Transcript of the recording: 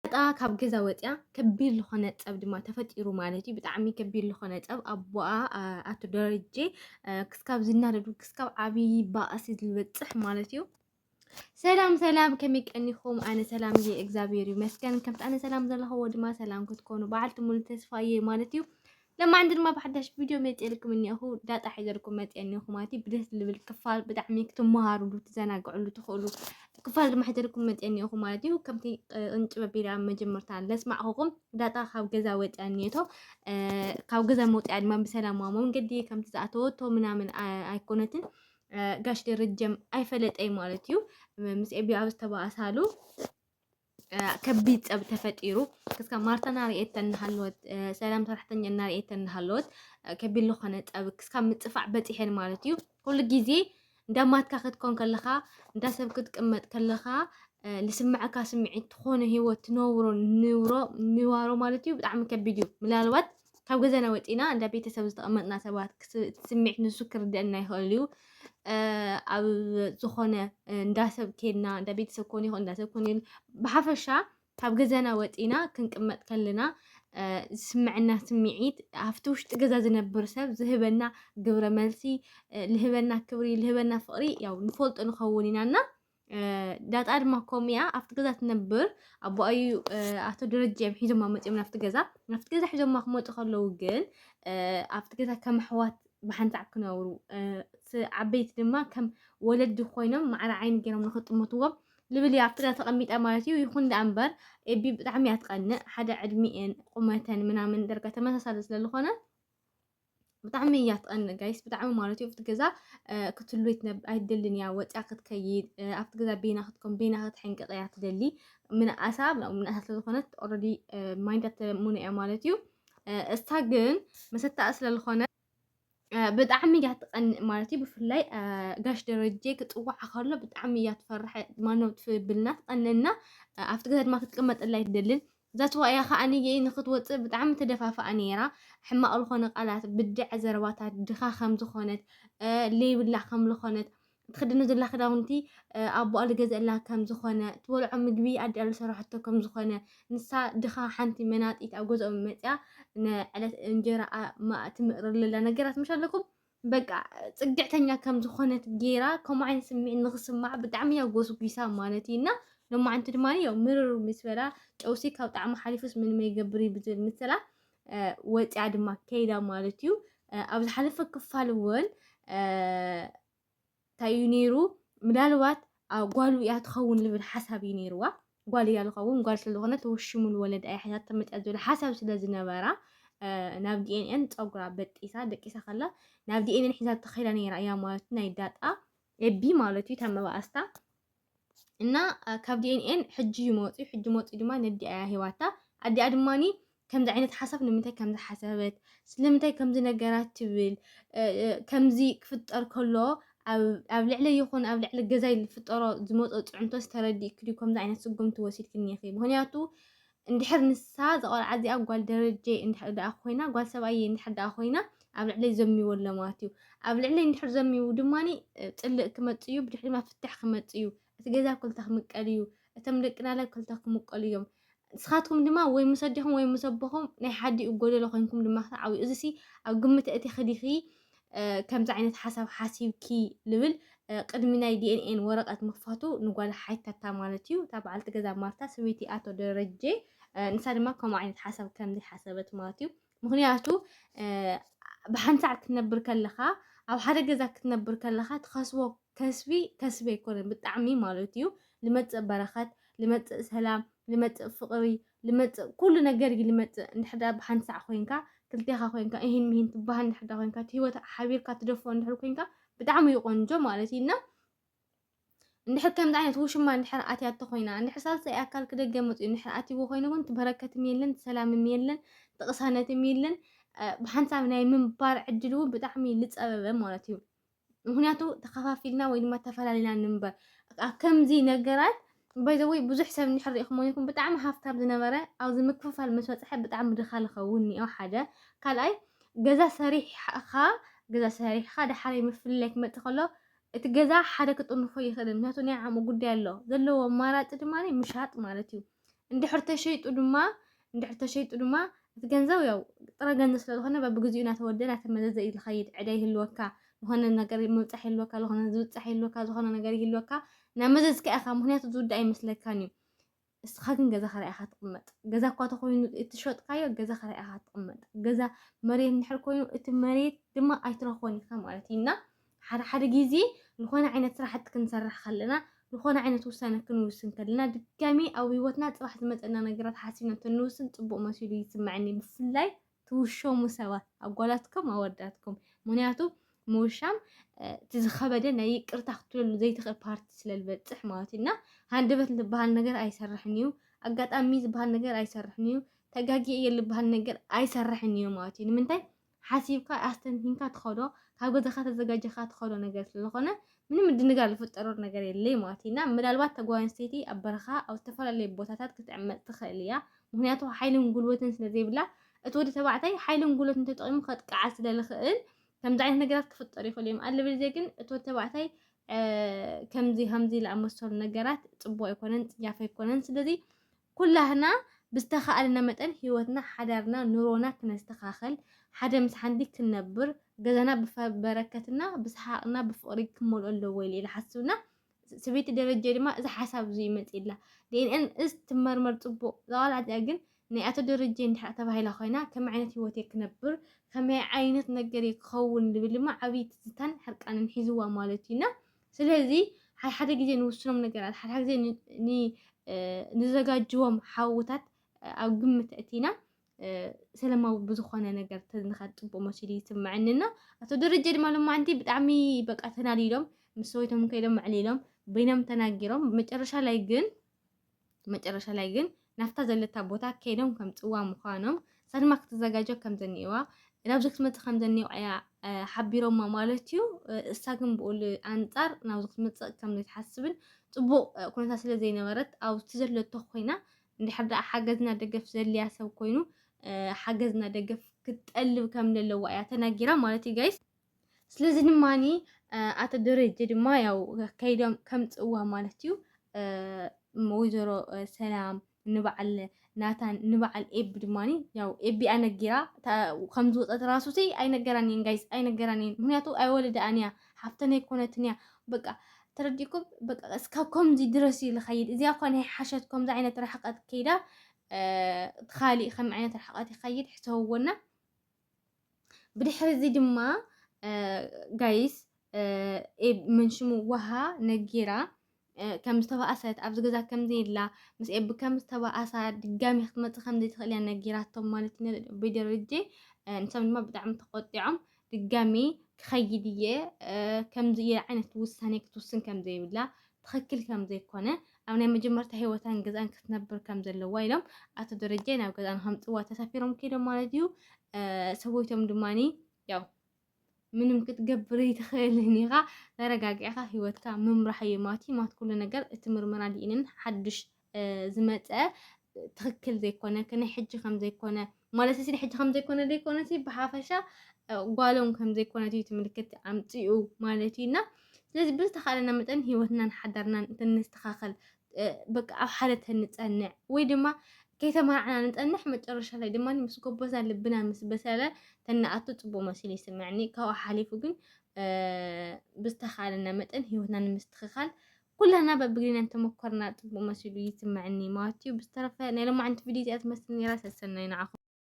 ዳጣ ካብ ገዛ ወፅያ ከቢድ ዝኾነ ፀብ ድማ ተፈጢሩ ማለት እዩ። ብጣዕሚ ከቢድ ዝኾነ ፀብ ኣቦኣ ኣቶ ደረጀ ክስካብ ዝናደዱ ክስካብ ዓብዪ ባእሲ ዝበፅሕ ማለት እዩ። ሰላም ሰላም ከመይ ቀኒኹም? ኣነ ሰላም እየ እግዚኣብሔር ይመስገን። ከምቲ ኣነ ሰላም ዘለኹዎ ድማ ሰላም ክትኮኑ በዓልቲ ሙሉ ተስፋ እየ ማለት እዩ። ለማን ድማ ብሓዳሽ ቪድዮ መፅኤልኩም እኒኦኹ ዳጣ ሒዘልኩም መፅኤ እኒኦኹ ማለት እዩ ብደስ ዝብል ክፋል ብጣዕሚ ክትመሃሩሉ ትዘናግዕሉ ትኽእሉ ክፋል ድማ ሒዘልኩም መፅኤ እኒኦኹ ማለት እዩ ከምቲ ቅንጭበ ቢላ መጀመርታ ለስማዕኹኹም ዳጣ ካብ ገዛ ወፅያ እኒኦቶ ካብ ገዛ መውፅያ ድማ ብሰላማዊ መንገዲ ከምቲ ዝኣተወቶ ምናምን ኣይኮነትን ጋሽ ደረጀም ኣይፈለጠይ ማለት እዩ ምስ ኤቢ ኣብ ዝተባእሳሉ ከቢድ ፀብ ተፈጢሩ ክስካብ ማርታ እናርኤት እናሃለወት ሰላም ሰራሕተኛ እናርኤት እናሃለወት ከቢድ ዝኾነ ፀብ ክስካብ ምፅፋዕ በፂሐን ማለት እዩ ኩሉ ግዜ እንዳማትካ ክትኮን ከለኻ እንዳሰብ ክትቅመጥ ከለኻ ልስምዐካ ስምዒት ትኾነ ሂወት ትነብሮ ንብሮ ንዋሮ ማለት እዩ ብጣዕሚ ከቢድ እዩ ምናልባት ካብ ገዛና ወፂና እንዳ ቤተሰብ ዝተቐመጥና ሰባት ስምዒት ንሱ ክርደአና ይኽእል እዩ። ኣብ ዝኾነ እንዳ ሰብ ኬድና እንዳ ቤተሰብ ኮን ይኽእል እንዳ ሰብ ኮን ይኽእል ብሓፈሻ ካብ ገዛና ወፂና ክንቅመጥ ከለና ዝስምዐና ስምዒት ኣብቲ ውሽጢ ገዛ ዝነብር ሰብ ዝህበና ግብረ መልሲ ልህበና ክብሪ ልህበና ፍቕሪ ያው ንፈልጦ ንኸውን ኢና እና ዳጣ ድማ ከምኡ እያ ኣብቲ ገዛ ትነብር ኣቦ ኣዩ ኣቶ ደረጀ እዮም ሒዞማ መፅኦም ናብቲ ገዛ ናብቲ ገዛ ሒዞማ ክመፁ ከለዉ ግን ኣብቲ ገዛ ከም ኣሕዋት ብሓንሳዕ ክነብሩ ዓበይቲ ድማ ከም ወለዲ ኮይኖም ማዕረ ዓይኒ ገይሮም ንክጥምትዎም ልብል እያ ኣብቲ ገዛ ተቐሚጣ ማለት እዩ ይኹን ዳኣ እምበር ኤቢ ብጣዕሚ እያ ትቐንእ ሓደ ዕድሚኤን ቁመተን ምናምን ደርጋ ተመሳሳሊ ስለዝኾነ ብጣዕሚ እያ ትቐንእ ጋይስ ብጣዕሚ ማለት እዩ ኣብቲ ገዛ ክትሉ ኣይትደልን እያ ወፅያ ክትከይድ ኣብቲ ገዛ ቤና ክትከም ቤና ክትሕንቅቕ እያ ትደሊ ምንኣሳ ምንኣሳ ስለዝኾነት ኦልሬዲ ማይንዳ ተለምኑ እያ ማለት እዩ እስታ ግን መሰታኣ ስለዝኾነ ብጣዕሚ እያ ትቐንእ ማለት እዩ ብፍላይ ጋሽ ደረጀ ክፅዋዕ ከሎ ብጣዕሚ እያ ትፈርሐ ማነው ትብልና ትቐንእና ኣብቲ ገዛ ድማ ክትቅመጠላ ኣይትደልን እዛ ተዋኢያ ከኣ ንየኢ ንክትወጽእ ብጣዕሚ ትደፋፋእ ኔራ ሕማቅ ልኮነ ቃላት ብድዐ ዘረባታት ድካ ከም ዝኮነት ለይብላ ከም ልኮነት ትክድኖ ዘላ ክዳውንቲ ኣቦኣ ልገዘእላ ከም ዝኮነ ትበልዖ ምግቢ ኣዲኣ ልሰራሐቶ ከም ዝኮነ ንሳ ድካ ሓንቲ መናጢት ኣብ ገዝኦም መጽያ ንዕለት እንጀራኣ ትምእረለላ ነገራት ምሻለኩም በቃ ፅግዕተኛ ከም ዝኾነት ጌራ ከምኡ ዓይነት ስምዒት ንኽስማዕ ብጣዕሚ እያ ጎስጒሳ ማለት እዩ እና ሎማዓንቲ ድማ ያው ምርር ምስ በላ ጨውሲ ካብ ጣዕሚ ሓሊፉስ ምንም ይገብር እዩ ብዝብል ምሰላ ወፂያ ድማ ከይዳ ማለት እዩ ኣብ ዝሓለፈ ክፋል እውን እንታይ እዩ ነይሩ ምናልባት ጓሉ እያ ትኸውን ዝብል ሓሳብ እዩ ነይርዋ ጓል እያ ዝኸውን ጓል ስለዝኾነት ወሽሙ ዝወለድ ኣያ ሓታት ተመፅያ ዝብል ሓሳብ ስለዝነበራ ናብ ዲኤንኤን ፀጉራ በጢሳ ደቂሳ ከላ ናብ ዲኤንኤን ሒዛ ተኸይዳ ነይራ እያ ማለት ናይ ዳጣ ኤቢ ማለት እዩ ተመባኣስታ እና ካብ ዲኤንኤን ሕጂ እዩ መወፂኡ ሕጂ መወፂኡ ድማ ነዲ ኣያ ሂዋታ ኣዲኣ ድማኒ ከምዚ ዓይነት ሓሳብ ንምንታይ ከም ዝሓሰበት ስለምንታይ ከምዚ ነገራት ትብል ከምዚ ክፍጠር ከሎ ኣብ ልዕለ ይኹን ኣብ ልዕሊ ገዛይ ዝፍጠሮ ዝመፆ ፅዕንቶስ ተረዲእክዲ ከምዚ ዓይነት ስጉምቲ ወሲድክኒ ኢኺ ምክንያቱ እንድሕር ንሳ እዛ ቆልዓ እዚኣ ጓል ደረጀ እንድሕር ደኣ ኮይና ጓል ሰብኣየ እንድሕር ደኣ ኮይና ኣብ ልዕለይ ዘሚዎ ኣሎ ማለት እዩ ኣብ ልዕለይ እንድሕር ዘሚው ድማኒ ፅልእ ክመፅ እዩ ብድሕሪ ድማ ፍትሕ ክመፅ እዩ እቲ ገዛ ክልተ ክምቀል እዩ እቶም ደቅናለ ክልተ ክምቀሉ እዮም ንስኻትኩም ድማ ወይ ምስ ኣዴኹም ወይ ምስ ኣቦኹም ናይ ሓዲኡ ጎደሎ ኮይንኩም ድማ ክትዓብዩ እዚሲ ኣብ ግምት እቲ ክዲኺ ከምዚ ዓይነት ሓሳብ ሓሲብኪ ልብል ቅድሚ ናይ ዲኤንኤን ወረቀት ምክፋቱ ንጓል ሓይታታ ማለት እዩ እታ በዓልቲ ገዛ ማርታ ሰበይቲ ኣቶ ደረጀ ንሳ ድማ ከምኡ ዓይነት ሓሳብ ከም ዘይሓሰበት ማለት እዩ ምክንያቱ ብሓንሳዕ ክትነብር ከለካ ኣብ ሓደ ገዛ ክትነብር ከለካ ትኸስቦ ከስቢ ከስቢ ኣይኮነን ብጣዕሚ ማለት እዩ ልመፅእ በረከት ልመፅእ ሰላም ልመፅእ ፍቅሪ ልመፅእ ኩሉ ነገር እዩ ልመፅእ እንድሕር ድኣ ብሓንቲ ሳዕ ኮይንካ ክልቴኻ ኮይንካ እሂን ምሂን ትበሃል እንድሕር ድኣ ኮይንካ እቲ ህይወት ሓቢርካ ትደፍኦ እንድሕር ኮይንካ ብጣዕሚ እዩ ቆንጆ ማለት እዩ እና እንድሕር ከምዚ ዓይነት ውሽማ እንድሕር ኣትያቶ ኮይና እንድሕር ሳልሳይ ኣካል ክደገ መፅኡ እንድሕር ኣትይዎ ኮይኑ ግን ትበረከትም የለን ሰላምም የለን ትቕሳነትም የለን ብሓንሳብ ናይ ምንባር ዕድል እውን ብጣዕሚ ልፀበበ ማለት እዩ ምክንያቱ ተኸፋፊልና ወይ ድማ ተፈላለና ንንበር ኣብ ከምዚ ነገራት ባይዘወይ ብዙሕ ሰብ እንድሕር ሪኢኹም ይኹን ብጣዕሚ ሃፍታም ዝነበረ ኣብዚ ምክፍፋል ምስ በፅሐ ብጣዕሚ ድኻ ዝኸውን እኒኦ ሓደ ካልኣይ ገዛ ሰሪሕኻ ገዛ ሰሪሕኻ ዳሓረይ ምፍልላይ ክመፅ ከሎ እቲ ገዛ ሓደ ክጥንፎ ይኽእል ምክንያቱ ናይ ዓቕሚ ጉዳይ ኣሎ ዘለዎ ኣማራፂ ድማ ምሻጥ ማለት እዩ እንድሕር ተሸይጡ ድማ እንድሕር ተሸይጡ ድማ እቲ ገንዘብ ያው ጥረ ገንዘብ ስለ ዝኾነ በብግዚኡ እናተወደደ እናተመዘዘ እዩ ዝኸይድ። ዕዳ ይህልወካ፣ ዝኾነ ነገር ምብፃሕ ይህልወካ፣ ዝኾነ ዝብፃሕ ይህልወካ፣ ዝኾነ ነገር ይህልወካ እናመዘዝካ ኢኻ። ምክንያቱ ዝውዳእ ኣይመስለካን እዩ። እስኻ ግን ገዛ ኸራይ ኢኻ ትቕመጥ። ገዛ እኳ ተኮይኑ እትሸጥካዮ ገዛ ኸራይ ኢኻ ትቕመጥ። ገዛ መሬት እንድሕር ኮይኑ እቲ መሬት ድማ ኣይትረኽቦን ኢኻ ማለት እዩ እና ሓደ ሓደ ግዜ ዝኾነ ዓይነት ስራሕቲ ክንሰርሕ ከለና ዝኾነ ዓይነት ውሳነ ክንውስን ከለና ድጋሚ ኣብ ህይወትና ፅባሕ ዝመፀና ነገራት ሓሲብና እንተንውስን ፅቡቅ መሲሉ ይስምዐኒ ብፍላይ ትውሸሙ ሰባት ኣጓላትኩም ኣወዳትኩም ምክንያቱ ምውሻም እቲ ዝኸበደ ናይ ይቅርታ ክትብለሉ ዘይትኽእል ፓርቲ ስለ ዝበፅሕ ማለት እዩ እና ሃንደበት ዝበሃል ነገር ኣይሰርሕን እዩ ኣጋጣሚ ዝበሃል ነገር ኣይሰርሕን እዩ ተጋጊ እየ ዝበሃል ነገር ኣይሰርሕን እዩ ማለት እዩ ንምንታይ ሓሲብካ ኣስተንቲንካ ትኸዶ ካብ ገዛኻ ተዘጋጀኻ ትኸዶ ነገር ስለዝኾነ ምንም ምድንጋር ዝፍጠረሉ ነገር የለይ ማለት እዩ እና ምናልባት ተጓዋይ ኣንስተይቲ ኣብ በረኻ ኣብ ዝተፈላለዩ ቦታታት ክትዕመፅ ትኽእል እያ ምክንያቱ ሓይልን ጉልበትን ስለዘይብላ እቲ ወዲ ተባዕታይ ሓይልን ጉልበትን ተጠቒሙ ከጥቅዓ ስለዝኽእል ከምዚ ዓይነት ነገራት ክፍጠሩ ይኽእሉ እዮም። ኣለበለዚያ ግን እቲ ወዲ ተባዕታይ ከምዚ ከምዚ ዝኣመሰሉ ነገራት ፅቡቅ ኣይኮነን፣ ፅያፍ ኣይኮነን። ስለዚ ኩላህና ብዝተኻእለና መጠን ሂወትና ሓዳርና ኑሮና ክነስተኻኸል ሓደ ምስ ሓንቲ ክንነብር ገዛና ብፈበረከትና ብስሓቕና ብፍቕሪ ክመልኦ ኣለዎ ኢለ ሓስብና ሰበይቲ ደረጀ ድማ እዚ ሓሳብ እዚ ይመጽላ ዲኤንኤን እስ ትመርመር ጽቡቕ ዛቆልዓ ግን ናይ ኣቶ ደረጀ እንድሕር ተባሂላ ኮይና ከመይ ዓይነት ህይወት እየ ክነብር ከመይ ዓይነት ነገር እየ ክኸውን ዝብል ድማ ዓብዪ ትዝታን ሕርቃንን ሒዝዋ ማለት እዩና ስለዚ ሓድሓደ ግዜ ንውስኖም ነገራት ሓድሓደ ግዜ ንዘጋጅዎም ሓውታት ኣብ ግምት እቲና ሰለማዊ ብዝኾነ ነገር ተዝንኸድ ፅቡቅ መሲሉ ይስምዐኒ እና ኣቶ ደረጀ ድማ ሎማዓንቲ ብጣዕሚ በቃ ተናዲዶም ምስ ሰበይቶም ከይዶም ኣዕሊሎም በይኖም ተናጊሮም መጨረሻ ላይ ግን መጨረሻ ላይ ግን ናብታ ዘለታ ቦታ ከይዶም ከምፅዋ ምዃኖም ሰልማ ክትዘጋጆ ከም ዘኒኤዋ ናብዚ ክትመፅእ ከም ዘኒኤዋ እያ ሓቢሮማ ማለት እዩ እሳ ግን ብኡ ኣንፃር ናብዚ ክትመፅእ ከም ዘይትሓስብን ፅቡቕ ኩነታት ስለ ዘይነበረት ኣብቲ ዘለቶ ኮይና እንድሕር ደኣ ሓገዝና ደገፍ ዘድልያ ሰብ ኮይኑ ሓገዝና ደገፍ ክትጠልብ ከም ዘለዋ እያ ተናጊራ ማለት እዩ ጋይስ ስለዚ ድማ ኣቶ ደረጀ ድማ ያው ከይዶም ከምፅእዋ ማለት እዩ ወይዘሮ ሰላም ንበዓል ናታን ንበዓል ኤቢ ድማ ያው ኤቢ ኣነጊራ ከም ዝወፀት ራሱ ሲ ኣይነገራን እየን ጋይስ ኣይነገራን እየን ምክንያቱ ኣይወለደኣን እያ ሓፍተን ኣይኮነትን እያ በቃ ተረዲእኩም በቃ እስካብ ከምዚ ድረስ እዩ ዝኸይድ እዚኣ እኳ ናይ ሓሸት ከምዚ ዓይነት ርሕቀት ከይዳ እቲ ካሊእ ከም ዓይነት ርሕቀት ይኸይድ ሕሰብዎና ብድሕሪ እዚ ድማ ጋይስ ምን ሽሙ ውሃ ነጊራ ከም ዝተባእሰት ኣብዚ ገዛ ከም ዘየላ ምስ ኤቢ ከም ዝተባእሳ ድጋሚ ክትመፅእ ከም ዘይትኽእል እያ ነጊራቶም ማለት እዩ ብደረጀ ንሶም ድማ ብጣዕሚ ተቆጢዖም ድጋሚ ክኸይድ እየ ከምዚ ዓይነት ውሳኔ ክትውስን ከም ዘይብላ ትኽክል ከም ዘይኮነ ኣብ ናይ መጀመርታ ሂወታን ገዛን ክትነብር ከም ዘለዋ ኢሎም ኣቶ ደረጀ ናብ ገዛ ንከምፅዋ ተሳፊሮም ከይዶም ማለት እዩ ሰበይቶም ድማኒ ያው ምንም ክትገብር ኣይትኽእልን ኢኻ ተረጋጊዕኻ ሂወትካ ምምራሕ እዩ ማቲ ማት ኩሉ ነገር እቲ ምርመራ ዲኤንን ሓዱሽ ዝመፀ ትኽክል ዘይኮነ ክንይ ሕጂ ከም ዘይኮነ ማለት እዚ ሕጂ ከም ዘይኮነ ዘይኮነሲ ብሓፈሻ ጓሎም ከም ዘይኮነት እዩ ትምልክት ኣምጽኡ ማለት እዩና ስለዚ ብዝተኻለና መጠን ህይወትናን ሓዳርናን እንተነስተኻኸል በቃ ኣብ ሓደ ተንጸንዕ ወይ ድማ ከይተመራዕና ንጸንሕ መጨረሻ ላይ ድማ ምስ ጎበዛ ልብና ምስ በሰለ ተናኣቱ ጽቡቅ መሲሉ ይስምዕኒ ካብኡ ሓሊፉ ግን ብዝተኻለና መጠን ህይወትና ንምስትኽኻል ኩላና በብግሪና እንተመኮርና ጽቡቅ መሲሉ ይስመዐኒ ማትዩ ብዝተረፈ ናይ ሎማዓንቲ ቪድዮ እዚኣ ትመስል ኔራ ሰሰናዩ ንዓኹም።